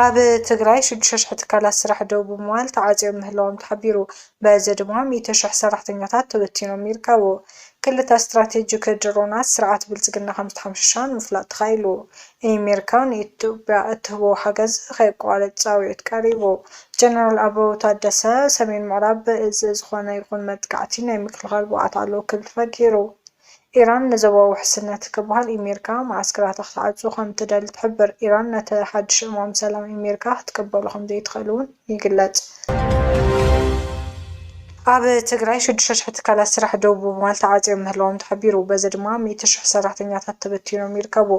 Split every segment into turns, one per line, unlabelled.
ኣብ ትግራይ ሽዱሽተ ሽሕ ትካላት ስራሕ ደው ብምባል ተዓፅዮም ምህላዎም ተሓቢሩ። በዚ ድማ ሚእቲ ሽሕ ሰራሕተኛታት ተበቲኖም ይርከቡ። ክልተ ስትራቴጂክ ድሮናት ስርዓት ብልፅግና ከምዝተሓምሸሻ ንምፍላጥ ተኻኢሉ። ኤሜሪካ ንኢትዮጵያ እትህቦ ሓገዝ ከየቋርጽ ጻዊዒት ቀሪቡ። ጀነራል ኣበባው ታደሰ፣ ሰሜን ምዕራብ ብእዝ ዝኾነ ይኹን መጥቃዕቲ ናይ ምክልኻል ብቕዓት ኣለዎ ክብል ፈጊሩ። ኢራን ንዞባዊ ውሕስነት ክበሃል ኤሜሪካ መዓስከራታ ክትዓጹ ከምትደሊ ትሕብር። ኢራን ነቲ ሓድሽ እማም ሰላም ኤሜሪካ ክትቅበሎ ከምዘይትኽእል'ውን ይግለፅ። ኣብ ትግራይ ሽዱሽተ ሽሕ ትካላት ስራሕ ደው ብምባል ተዓፅዮም ምህላዎም ተሓቢሩ። በዚ ድማ ሚእቲ ሽሕ ሰራሕተኛታት ተበቲኖም ይርከቡ።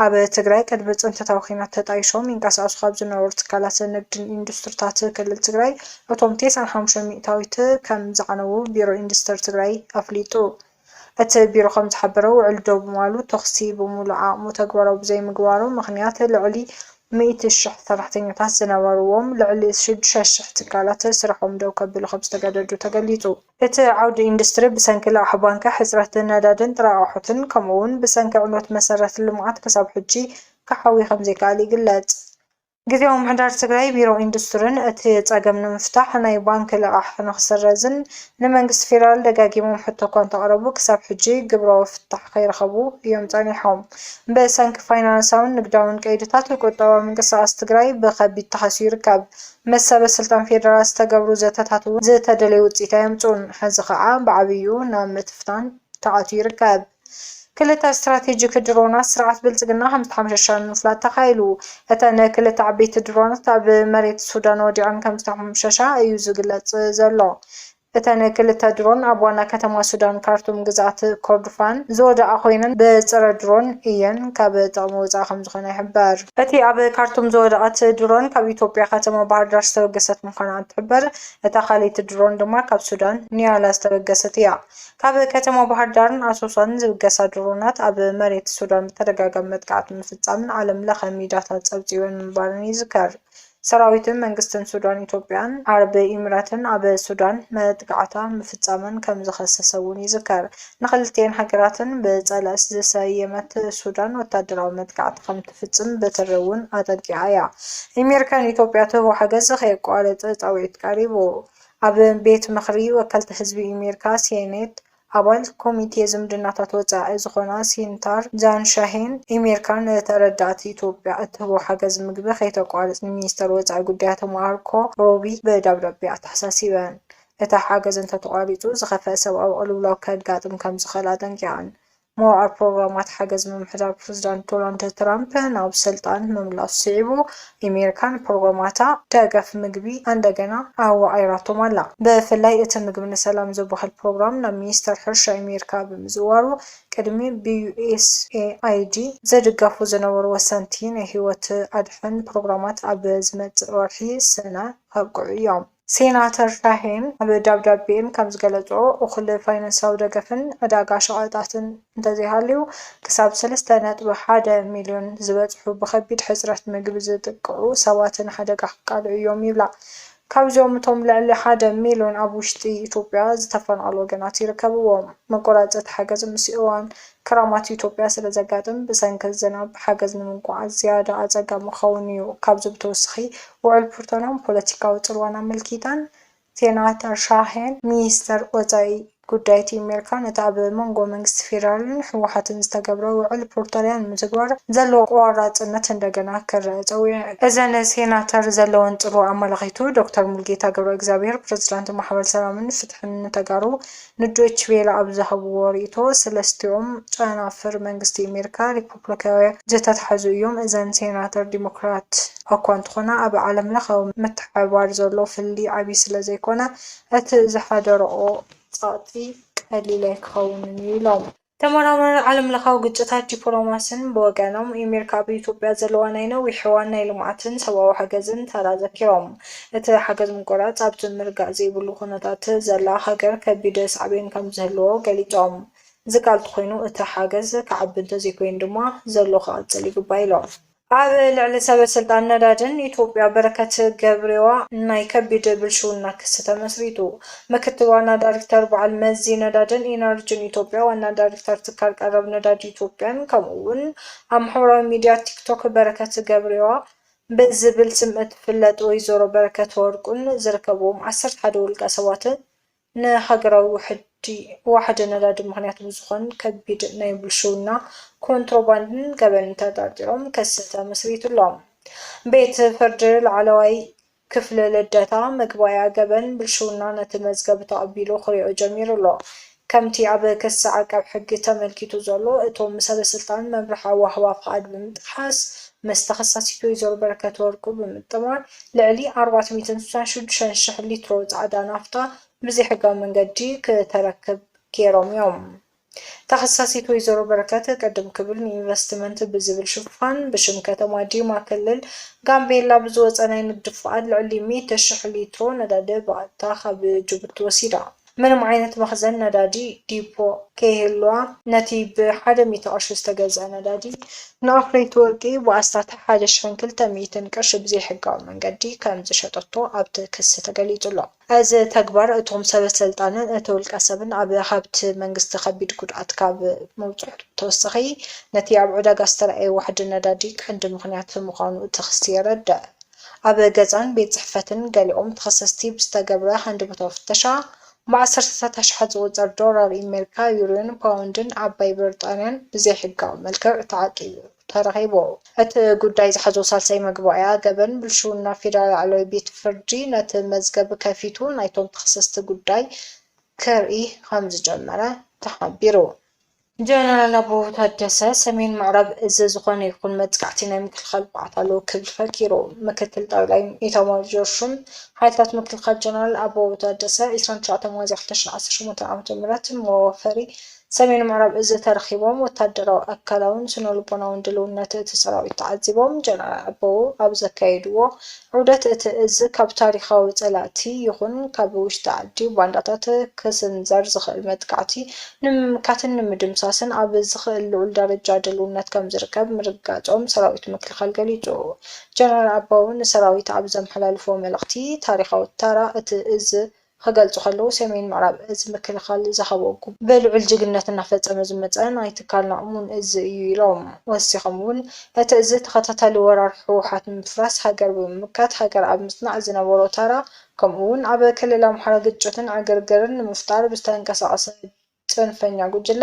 ኣብ ትግራይ ቅድሚ ፅንተታዊ ኹናት ተጣይሾም ይንቀሳቐሱ ካብ ዝነበሩ ትካላት ንግድን ኢንዱስትሪታት ክልል ትግራይ እቶም ቴስዓን ሓሙሽተን ሚእታዊት ከምዝዓነዉ ቢሮ ኢንዱስትሪ ትግራይ ኣፍሊጡ። እቲ ቢሮ ከምዝሓበሮ፣ ውዕል ዶብ ምባሉ ተኹሲ ብሙሉእ ዓቕሙ ተግባራዊ ብዘይምግባሩ ምኽንያት ልዕሊ ሚእቲ ሽሕ ሰራሕተኛታት ዝነበርዎም ልዕሊ ሽዱሽተ ሽሕ ትካላት ስርሖም ደው ከብሉ ከምዝተገደዱ ተገሊፁ። እቲ ዓውዲ ኢንዱስትሪ ብሰንኪ ልቓሕ ባንኪ፣ ሕፅረት ነዳዲን ጥረ ኣቕሑትን ከምኡ እውን ብሰንኪ ዕንወት መሰረተ ልምዓት ክሳብ ሕጂ ክሓዊ ከምዘይከኣለ ይግለፅ። ግዝያዊ ምምሕዳር ትግራይ ቢሮ ኢንዱስትርን እቲ ፀገም ንምፍታሕ ናይ ባንኪ ልቓሕ ንክስረዝን ንመንግስቲ ፌዴራል ደጋጊሞም ሕቶ እኳ እንተቕረቡ ክሳብ ሕጂ ግብራዊ ፍታሕ ከይረኸቡ እዮም ፀኒሖም። ብሰንኪ ፋይናንሳውን ንግዳውን ቀይድታት ቁጠባዊ ምንቅስቓስ ትግራይ ብኸቢድ ተሃስዩ ይርከብ። ምስ ሰበስልጣን ፌዴራል ዝተገብሩ ዘተታት እውን ዝተደለየ ውፅኢት ኣየምፅኡን። ሕዚ ከዓ ብዓብይኡ ናብ ምትፍታን ተኣትዩ ይርከብ። ክልተ ስትራቴጂክ ድሮናት ስርዓት ብልጽግና ከምዝተሓምሸሻ ንምፍላጥ ተኻኢሉ። እተን ክልተ ዓበይቲ ድሮናት ኣብ መሬት ሱዳን ወዲቐን ከምዝተሓምሸሻ እዩ ዝግለጽ ዘሎ። እተን ክልተ ድሮን ኣብ ዋና ከተማ ሱዳን ካርቱም ግዝኣት ኮርዱፋን ዝወደቓ ኮይነን ብጸረ ድሮን እየን ካብ ጥቕሚ ወጻኢ ከምዝኾና ይሕበር። እቲ ኣብ ካርቱም ዝወደቐት ድሮን ካብ ኢትዮጵያ ከተማ ባህርዳር ዝተበገሰት ምዃና እንትሕበር፣ እታ ካልኣይቲ ድሮን ድማ ካብ ሱዳን ኒያላ ዝተበገሰት እያ። ካብ ከተማ ባህርዳርን ኣሶሳን ዝብገሳ ድሮናት ኣብ መሬት ሱዳን ብተደጋጋሚ መጥቃዕቲ ምፍፃመን ዓለም ለኸ ሚድያታት ፀብፂበን ምንባረን ይዝከር። ሰራዊትን መንግስትን ሱዳን ኢትዮጵያን ዓረብ ኢሚራትን ኣብ ሱዳን መጥቃዕታ ምፍፃመን ከምዝኸሰሰ እውን ይዝከር። ንክልቲኤን ሃገራትን ብፀላእት ዝሰየመት ሱዳን ወታደራዊ መጥቃዕቲ ከምትፍፅም ብትሪ እውን ኣጠንቂቓ እያ። ኢሚር ከን ኢትዮጵያ ትህቦ ሓገዝ ከየቋረፅ ፃውዒት ቀሪቡ። ኣብ ቤት ምኽሪ ወከልቲ ህዝቢ ኣሜሪካ፣ ሴኔት፣ ኣባል ኮሚቴ ዝምድናታት ወጻኢ ዝኾና ሲንታር ጃን ሻሄን፣ ኣሜሪካ ንተረዳእቲ ኢትዮጵያ እትህቦ ሓገዝ ምግቢ ከይተቋርጽ ንሚኒስተር ወጻኢ ጉዳያት ማርኮ ሩቢዮ ብደብዳቤ ኣተሓሳሲበን። እቲ ሓገዝ እንተተቋሪጹ ዝኸፍኣ ሰብኣዊ ቅልውላው ከጋጥም ከምዝኽእል ኣጠንቂቐን። መዋዕል ፕሮግራማት ሓገዝ ምምሕዳር ፕረዚዳንት ዶናልድ ትራምፕ ናብ ስልጣን ምምላሱ ስዒቡ፣ ኣሜሪካ ንፕሮግራማታ ደገፍ ምግቢ ኣንደገና ኣዋቒራቶም ኣላ። ብፍላይ እቲ ምግቢ ንሰላም ዝብሃል ፕሮግራም ናብ ሚኒስተር ሕርሻ ኣሜሪካ ብምዝዋሩ፣ ቅድሚ ብዩኤስኤኣይዲ ዝድገፉ ዝነበሩ ወሰንቲ ናይ ህይወት ኣድሕን ፕሮግራማት ኣብ ዝመጽእ ወርሒ ሰነ ከብቅዑ እዮም። ሴናተር ሻሄን ኣብ ደብዳቤኤም ከምዝገለፅኦ እኹል ፋይናንሳዊ ደገፍን ዕዳጋ ሸቐጣትን እንተዘይሃልዩ ክሳብ ሰለስተ ነጥቢ ሓደ ሚልዮን ዝበፅሑ ብኸቢድ ሕፅረት ምግቢ ዝጥቅዑ ሰባት ንሓደጋ ክቃልዑ እዮም ይብላ። ካብዚኦም እቶም ልዕሊ ሓደ ሚልዮን ኣብ ውሽጢ ኢትዮጵያ ዝተፈናቐሉ ወገናት ይርከብዎም። መቆራፀቲ ሓገዝ ምስ እዋን ክራማት ኢትዮጵያ ስለ ዘጋጥም ብሰንኪ ዝናብ ሓገዝ ንምጉዓዝ ዝያዳ ኣፀጋሚ ክኸውን ኢዩ። ካብዚ ብተወሳኺ ውዕል ፕርቶናን ፖለቲካዊ ፅልዋን ኣመልኪተን ሴናተር ሻሄን ሚኒስተር ወፃኢ ጉዳይት ኢሜርካ ነቲ ኣብ መንጎ መንግስቲ ፌዴራልን ህወሓትን ዝተገብረ ውዕል ፕርቶርያ ንምትግባር ዘለዎ ቆራፅነት እንደገና ክረኣ ፀዊዐን። እዘን ሴናተር ዘለወን ፅልዋ ኣመላኺቱ ዶክተር ሙሉጌታ ገብረእግዚኣብሄር ፕረዚዳንት ማሕበር ሰላምን ፍትሕን ንተጋሩ ንዶይች ቬለ ኣብ ዝሃብዎ ርእይቶ፣ ሰለስቲኦም ጨናፍር መንግስቲ ኣሜሪካ፣ ሪፖፕሊካውያን ዝተታሕዙ እዮም፣ እዘን ሴናተር ዲሞክራት እኳ እንተኾና፣ ኣብ ዓለምለኻዊ ምትሕብባር ዘሎ ፍልልይ ዓብዪ ስለዘይኮነ፣ እቲ ዝሓደረኦ ጸቕጢ ቀሊል ኣይክኸውንን'ዩ ኢሎም። ተመራማሪ ዓለምለኻዊ ግጭታትን ዲፕሎማስን ብወገኖም፣ ኤሚርካ ኣብ ኢትዮጵያ ዘለዋ ናይ ነዊሕ እዋን ናይ ልምዓትን ሰብኣዊ ሓገዝን ተራ ዘኪሮም፣ እቲ ሓገዝ ምቁራጽ ኣብ'ቲ ምርጋእ ዘይብሉ ኩነታት ዘላ ሃገር ከቢድ ሳዕቤን ከምዝህልዎ ገሊጾም፣ ዝቃል ተኾይኑ እቲ ሓገዝ ክዓቢ እንተዘይኮይኑ ድማ ዘሎ ክቕጽል ይግባእ ኢሎም። ኣብ ልዕሊ ሰበ ስልጣን ነዳድን ኢትዮጵያ በረከት ገብሬዋ ናይ ከቢድ ብልሽውና ክሲ ተመስሪቱ። ምክትል ዋና ዳሪክተር በዓል መዚ ነዳድን ኢነርጅን ኢትዮጵያ፣ ዋና ዳሪክተር ትካል ቀረብ ነዳዲ ኢትዮጵያን ከምኡ እውን ኣብ ማሕበራዊ ሚዲያ ቲክቶክ በረከት ገብሬዋ ብዝብል ስም እትፍለጥ ወይዘሮ በረከት ወርቁን ዝርከብዎም ዓሰርተ ሓደ ውልቀ ሰባትን ንሃገራዊ ውሕጅ ዋሕዲ ነዳዲ ምኽንያት ብዝኾን ከቢድ ናይ ብልሽውና፣ ኮንትሮባንድን ገበንን ተጠርጢሮም ክሲ ተመስሪቱሎም። ቤት ፍርዲ ላዕለዋይ ክፍሊ ልደታ፣ መግባእያ ገበን ብልሽውና ነቲ መዝገብ ተቐቢሉ ክሪኦ ጀሚሩ ኣሎ። ከምቲ ኣብ ክሲ ዓቃብ ሕጊ ተመልኪቱ ዘሎ፣ እቶም ሰበስልጣን መምርሒ ኣወሃህባ ፍቓድ ብምጥሓስ ምስ ተኸሳሲት ወይዘሮ በረከት ወርቁ ብምጥማር ልዕሊ ኣርባዕተ ሚእትን ስሳን ሽዱሽተን ሽሕ ሊትሮ ፃዕዳ ናፍታ ብዘይሕጋዊ መንገዲ ክተረክብ ገይሮም እዮም። ተኸሳሲት ወይዘሮ በረከት ቅድም ክብል ንኢንቨስትመንት ብዝብል ሽፋን ብሽም ከተማ ዲማ ክልል ጋምቤላ ብዝወፀ ናይ ንግዲ ፍቓድ ልዕሊ ሚእቲ ሽሕ ሊትሮ ነዳዲ ብቐጥታ ካብ ጅቡቲ ወሲዳ ምንም ዓይነት መኽዘን ነዳዲ፣ ዲፖ፣ ከይህልዋ ነቲ ብሓደ ሚእቲ ቅርሺ ዝተገዝኣ ነዳዲ ንኣፍረይቲ ወርቂ ብኣስታት ሓደ ሽሕን ክልተ ሚእትን ቅርሺ ብዘይሕጋዊ መንገዲ ከምዝሸጠቶ ኣብቲ ክሲ ተገሊጹ'ሎ። እዚ ተግባር እቶም ሰበሰልጣንን እቲ ውልቀሰብን ኣብ ሃብቲ መንግስቲ ከቢድ ጉድኣት ካብ ምብጽሑ ብተወሳኺ ነቲ ኣብ ዕዳጋ ዝተራእየ ዋሕዲ ነዳዲ ቀንዲ ምኽንያት ምዃኑ እቲ ክሲ የረድእ። ኣብ ገዛን ቤት ጽሕፈትን ገሊኦም ተኸሰስቲ ብዝተገብረ ሃንደበታዊ ፍተሻ፣ ብዓሰርተታት ኣሽሓት ዝቑጸር ዶላር ኣሜሪካ፣ ዩሮን ፓውንድን ዓባይ ብሪጣንያን ብዘይሕጋዊ መልክዕ ተዓቂቡ ተረኺቡ። እቲ ጉዳይ ዝሓዞ ሳልሳይ መግባእያ ገበን ብልሽውና ፌደራል ላዕለዋይ ቤት ፍርዲ ነቲ መዝገብ ከፊቱ ናይቶም ተኸሰስቲ ጉዳይ ክርኢ ከምዝጀመረ ተሓቢሩ። ጀነራል ኣበባው ታደሰ፣ ሰሜን ምዕራብ እዚ ዝኾነ ይኹን መጥቃዕቲ ናይ ምክልኻል ብቕዓት ኣለዎ ክብል ፈኪሩ። ምክትል ጠቕላይ ኢታማዦር ሹም ሓይልታት ምክልኻል ጀነራል ኣበባው ታደሰ፣ ዕስራን ትሽዓተን ሚያዝያ ክልተ ሽሕን ዓሰርተ ሸሞንተን ዓመተ ምህረት መዋፈሪ ሰሜን ምዕራብ እዚ ተረኺቦም ወታደራዊ፣ ኣካላውን ስነልቦናውን ድልውነት እቲ ሰራዊት ተዓዚቦም። ጀነራል ኣበባው ኣብ ዘካየድዎ ዑደት እቲ እዝ ካብ ታሪኻዊ ፀላእቲ ይኹን ካብ ውሽጢ ዓዲ ባንዳታት ክስንዘር ዝኽእል መጥቃዕቲ ንምምካትን ንምድምሳስን ኣብ ዝኽእል ልዑል ደረጃ ድልውነት ከምዝርከብ ምርግጋፆም ሰራዊት ምክልኻል ገሊፁ። ጀነራል ኣበባው ንሰራዊት ኣብ ዘመሓላለፍዎ መልእኽቲ፣ ታሪኻዊ ተራ እቲ እዝ፣ ክገልጹ ከለዉ፣ ሰሜን ምዕራብ እዝ ምክልኻል ዝሃቦ ጉቦ ብልዑል ጅግንነት እናፈጸመ ዝመጸ ናይ ትካልና እሙን እዝ እዩ ኢሎም። ወሲኾም እውን እቲ እዝ ተኸታታሊ ወራር ህወሓት ንምፍራስ ሃገር ብምምካት ሃገር ኣብ ምፅናዕ ዝነበሮ ታራ ከምኡ እውን ኣብ ክልል ኣምሓራ ግጭትን ዕግርግርን ንምፍጣር ብዝተንቀሳቐሰ ፅንፈኛ ጉጅለ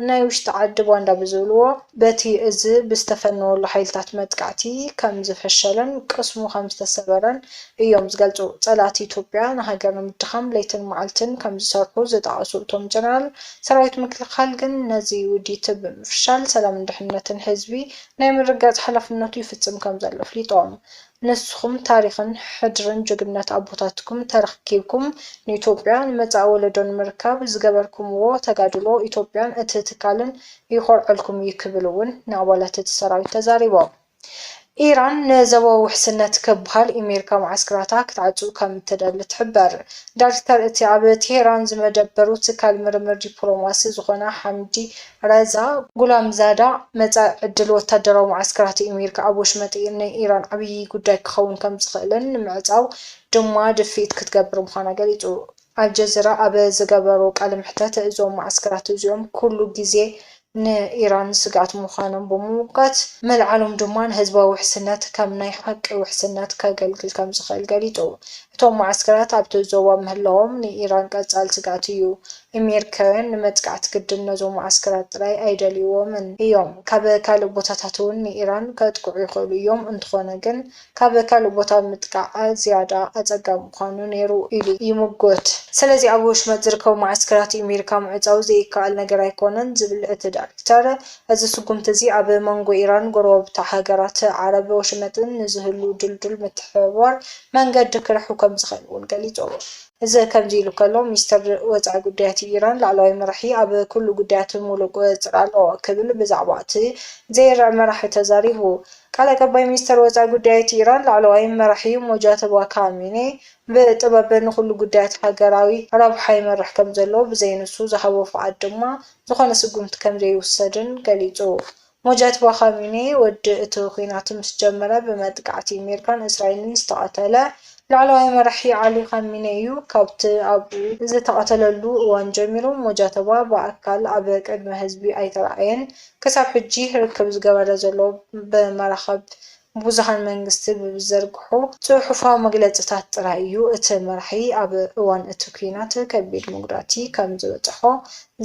ናይ ውሽጢ ዓዲ ባንዳ ብዝብልዎ፣ በቲ እዚ ብዝተፈነወሉ ሓይልታት መጥቃዕቲ ከም ዝፈሸለን ቅስሙ ከም ዝተሰበረን እዮም ዝገልፁ። ፀላእቲ ኢትዮጵያ ንሃገር ንምድኻም ለይትን መዓልትን ከም ዝሰርሑ ዝጠቐሱ እቶም ጀነራል፣ ሰራዊት ምክልኻል ግን ነዚ ውዲት ብምፍሻል ሰላምን ድሕንነትን ህዝቢ ናይ ምርግጋፅ ሓላፍነቱ ይፍፅም ከም ዘሎ ኣፍሊጦም። ንስኹም ታሪኽን ሕድርን ጅግንነት ኣቦታትኩም ተረክኪብኩም ንኢትዮጵያ ንመጻኢ ወለዶ ንምርካብ ዝገበርኩምዎ ተጋድሎ ኢትዮጵያን እቲ ትካልን ይኾርዐልኩም እዩ ክብል እውን ንኣባላት እቲ ሰራዊት ተዛሪቦም። ኢራን ንዘበዊ ውሕስነት ክብሃል ኢሜሪካ መዓስከራታ ክትዓጹ ከም እትደሊ ትሕበር። ዳሪክተር እቲ ኣብ ቴህራን ዝመደበሩ ትካል ምርምር ዲፕሎማሲ ዝኾነ ሓምዲ ረዛ ጉላምዛዳ፣ መጻኢ ዕድል ወታደራዊ መዓስከራት ኣሜሪካ ኣብ ወሽመጥ ን ኢራን ዓብዪ ጉዳይ ክኸውን ከምዝኽእልን ንምዕጻው ድማ ድፍኢት ክትገብር ምዃና ገሊጹ። ኣልጀዚራ ኣብ ዝገበሮ ቃለ መሕተት፣ እዞም መዓስከራት እዚኦም ኩሉ ግዜ ን ኢራን ስግኣት ምዃኖም ብምምጓት፣ ምልዓሎም ድማ ንህዝባዊ ውሕስነት ከም ናይ ሓቂ ውሕስነት ከገልግል ከምዝኽእል ገሊጹ። እቶም መዓስከራት ኣብቲ ዞባ ምህላዎም ንኢራን ቀጻሊ ስግኣት እዩ ኤሜሪካውያን ንመጥቃዕቲ ግድን ነዞም መዓስከራት ጥራይ ኣይደልይዎምን እዮም ካብ ካልእ ቦታታት እውን ንኢራን ከጥቅዑ ይኽእሉ እዮም እንተኾነ ግን ካብ ካልእ ቦታ ምጥቃዕ ዝያዳ ኣጸጋሚ ምዃኑ ነይሩ ኢሉ ይምጉት። ስለዚ ኣብ ወሽመጥ ዝርከቡ መዓስከራት ኤሜሪካ ምዕጻው ዘይከኣል ነገር ኣይኮነን ዝብል እቲ ዳይረክተር እዚ ስጉምቲ እዚ ኣብ መንጎ ኢራን ጎረባብታ ሃገራት ዓረብ ወሽመጥን ንዝህሉ ድልዱል ምትሕብባር መንገዲ ክርሕው ከምዝኽእል እውን ገሊጹ። እዚ ከምዚ ኢሉ ከሎ ሚኒስተር ወጻኢ ጉዳያት ኢራን ላዕለዋይ መራሒ ኣብ ኩሉ ጉዳያት ሙሉእ ቁጽጽር ኣለዎ ክብል ብዛዕባ'ቲ ዘይርዕ መራሒ ተዛሪቡ። ቃል ኣቀባይ ሚኒስተር ወጻኢ ጉዳያት ኢራን ላዕለዋይ መራሒ ሞጃተባ ካሚኔ ብጥበብ ንኹሉ ጉዳያት ሃገራዊ ረብሓ ይመርሕ ከምዘሎ ብዘይ ንሱ ዝሃቦ ፍቓድ ድማ ዝኾነ ስጉምቲ ከምዘይውሰድን ገሊጹ። ሞጃትባ ኻሚኒ ወዲ እቲ ኲናት ምስ ጀመረ ብመጥቃዕቲ ኣሜሪካን እስራኤልን ዝተቐተለ ላዕለዋይ መራሒ ዓሊ ኻሚኒ እዩ። ካብቲ ኣብ ዝተቐተለሉ እዋን ጀሚሩ ሞጃተባ ብኣካል ኣብ ቅድሚ ህዝቢ ኣይተራእየን። ክሳብ ሕጂ ርክብ ዝገበረ ዘሎ ብመራኽብ ብዙሃን መንግስቲ ብዝዘርግሑ ጽሑፋዊ መግለጺታት ጥራይ እዩ እቲ መራሒ ኣብ እዋን እቲ ኲናት ከቢድ መጉዳእቲ ከም ዝበጸሖ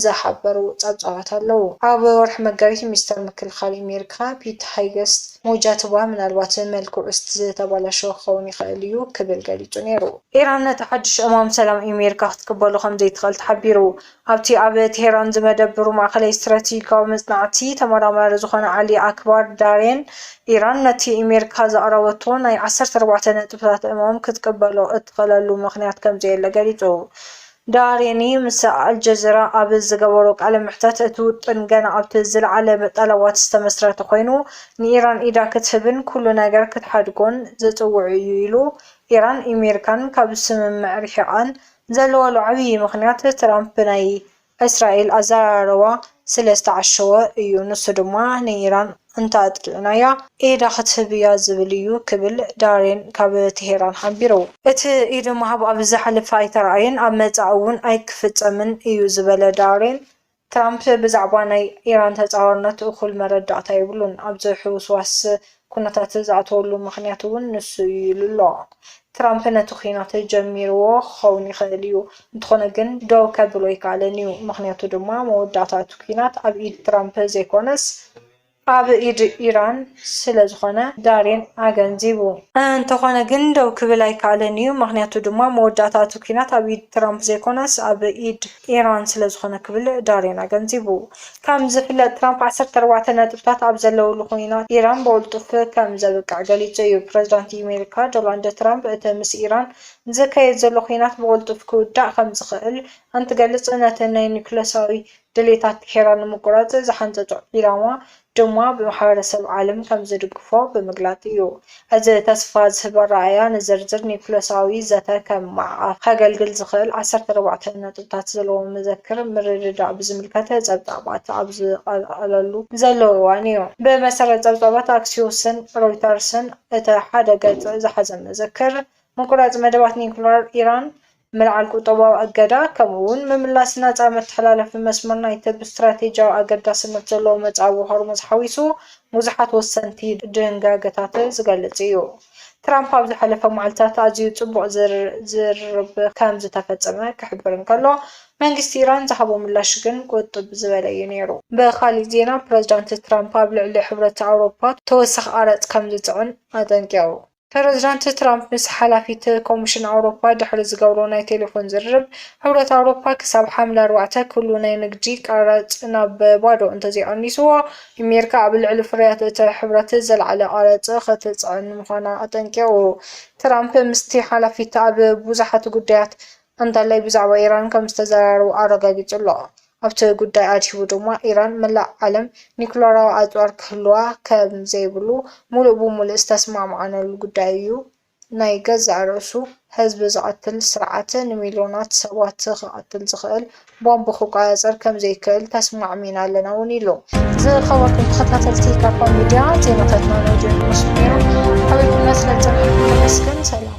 ዝሓበሩ ጸብጻባት ኣለዉ። ኣብ ወርሒ መጋቢት ሚኒስተር ምክልኻል ኣሜሪካ ፒት ሃይገስት ሞጃትባ ምናልባት መልክዑ ዝተበላሸወ ክኸውን ይኽእል እዩ ክብል ገሊጹ ነይሩ። ኢራን ነቲ ሓድሽ እማም ሰላም ኣሜሪካ ክትቅበሎ ከም ዘይትኽእል ተሓቢሩ። ኣብቲ ኣብ ቴህራን ዝመደብሩ ማእከላይ ስትራቴጂካዊ መጽናዕቲ ተመራማሪ ዝኾነ ዓሊ ኣክባር ዳሬን፣ ኢራን ነቲ ኢሜሪካ ዘቕረበቶ ናይ ዓሰርተ ኣርባዕተ ነጥብታት እማም ክትቅበሎ እትኽእለሉ ምኽንያት ከምዘየለ ገሊጹ። ዳሬኒ ምስ ኣልጀዚራ ኣብ ዝገበሮ ቃለ መሕተት፣ እቲ ውጥን ገና ኣብቲ ዝለዓለ ጠለባት ዝተመስረተ ኮይኑ፣ ንኢራን ኢዳ ክትህብን ኩሉ ነገር ክትሓድጎን ዝጽውዕ'ዩ ኢሉ። ኢራን ኢሜሪካን ካብ ስምምዕ ርሒቓን ዘለወሉ ዓብዪ ምኽንያት ትራምፕ ብናይ እስራኤል ኣዘራርባ ስለ ዝተዓሸወ እዩ፣ ንሱ ድማ ንኢራን እንተኣጥቂዕናያ ኢዳ ክትህብ እያ ዝብል እዩ ክብል ዳሬን ካብ ቴሄራን ሓቢሩ። እቲ ኢድ ምሃብ ኣብ ዝሓለፈ ኣይተራእየን፣ ኣብ መጻኢ እውን ኣይክፍጸምን እዩ ዝበለ ዳሬን፣ ትራምፕ ብዛዕባ ናይ ኢራን ተጻዋርነት እኹል መረዳእታ የብሉን፣ ኣብዚ ሕውስዋስ ኩነታት ዝኣተወሉ ምኽንያት'ውን ንሱ እዩ ኢሉ'ሎ። ትራምፕ ነቲ ኲናት ጀሚርዎ ክኸውን ይኽእል እዩ፣ እንተኾነ ግን ደው ከብሎ ኣይከኣለን እዩ፣ ምኽንያቱ ድማ መወዳእታ እቲ ኲናት ኣብ ኢድ ትራምፕ ዘይኮነስ፣ ኣብ ኢድ ኢራን ስለ ዝኾነ ዳሪን ኣገንዚቡ። እንተኾነ ግን ደው ክብል ኣይከኣለን'ዩ፣ ምኽንያቱ ድማ መወዳእታ እቲ ኲናት ኣብ ኢድ ትራምፕ ዘይኮነስ ኣብ ኢድ ኢራን ስለ ዝኾነ ክብል ዳሪን ኣገንዚቡ። ከም ዝፍለጥ ትራምፕ ዓሰርተ ኣርባዕተ ነጥብታት ኣብ ዘለዉሉ ኲናት ኢራን ብቕልጡፍ ከም ዘብቅዕ ገሊጹ እዩ። ፕረዚዳንት ኣሜሪካ ዶላንድ ትራምፕ እቲ ምስ ኢራን ዝካየድ ዘሎ ኲናት ብቕልጡፍ ክውዳእ ከም ዝኽእል እንትገልጽ ነቲ ናይ ኑክለሳዊ ድሌታት ኬራ ንምቁራጽ ዝሓንጸጾ ዒላማ ድማ ብማሕበረሰብ ዓለም ከም ዝድግፎ ብምግላጽ እዩ። እዚ ተስፋ ዝህብ ኣረኣእያ ንዝርዝር ኒዩክለሳዊ ዘተ ከም ማዕቐፍ ከገልግል ዝኽእል ዓሰርተ ኣርባዕተ ነጥብታት ዘለዎ መዘክር ምርድዳእ ብዝምልከት ጸብጻባት ኣብ ዝቐርኣለሉ ዘሎ እዋን እዩ። ብመሰረት ጸብጻባት ኣክሲዮስን ሮይተርስን እቲ ሓደ ገጽ ዝሓዘ መዘክር፣ ምቁራጽ መደባት ኒዩክለር ኢራን ምልዓል ቁጠባዊ እገዳ፣ ከምኡ'ውን ምምላስ ናጻ መተሓላለፊ መስመር ናይቲ ብስትራቴጂያዊ ኣገዳስነት ዘለዎ መጻብቦ ሆርሙዝ ሓዊሱ ብዙሓት ወሰንቲ ድንጋገታት ዝገልጽ እዩ። ትራምፕ ኣብ ዝሓለፈ መዓልታት ኣዝዩ ጽቡቕ ዝርርብ ከም ዝተፈጸመ ክሕብር እንከሎ፣ መንግስቲ ኢራን ዝሃቦ ምላሽ ግን ቁጥብ ዝበለ እዩ ነይሩ። ብኻልእ ዜና ፕረዚዳንት ትራምፕ ኣብ ልዕሊ ሕብረት ኣውሮፓ ተወሳኺ ቀረጽ ከም ዝጽዕን ኣጠንቂቑ። ፕረዚደንት ትራምፕ ምስ ሓላፊት ኮሚሽን ኣውሮፓ ድሕሪ ዝገብሮ ናይ ቴሌፎን ዝርርብ፣ ሕብረት ኣውሮፓ ክሳብ ሓምለ ኣርባዕተ ኩሉ ናይ ንግዲ ቀረጽ ናብ ባዶ እንተዘይቐኒስዎ፣ ኣሜሪካ ኣብ ልዕሊ ፍርያት እቲ ሕብረት ዝለዓለ ቀረጽ ክትጽዕን ምዃና ኣጠንቂቑ። ትራምፕ ምስቲ ሓላፊት ኣብ ብዙሓት ጉዳያት እንዳላይ ብዛዕባ ኢራን ከም ዝተዘራረቡ ኣረጋጊጹ ኣሎ። ኣብቲ ጉዳይ ኣድሂቡ ድማ ኢራን መላእ ዓለም ኒዩክለራዊ ኣጽዋር ክህልዋ ከም ዘይብሉ ምሉእ ብምሉእ ዝተስማዕማዕናሉ ጉዳይ እዩ፣ ናይ ገዛእ ርእሱ ህዝቢ ዝቐትል ስርዓት ንሚልዮናት ሰባት ክቐትል ዝኽእል ቦምብ ክቆጻጸር ከም ዘይክእል ተስማዕሚዕና ኣለና እውን ኢሉ። ዝኸበርኩም ተኸታተልቲ ካባ ሚድያ ዜናታትና ናይዚ ዝመስሉ ነይሮም። ኣበይኩም መስለ ጽናሕኩም ነመስግን። ሰላም።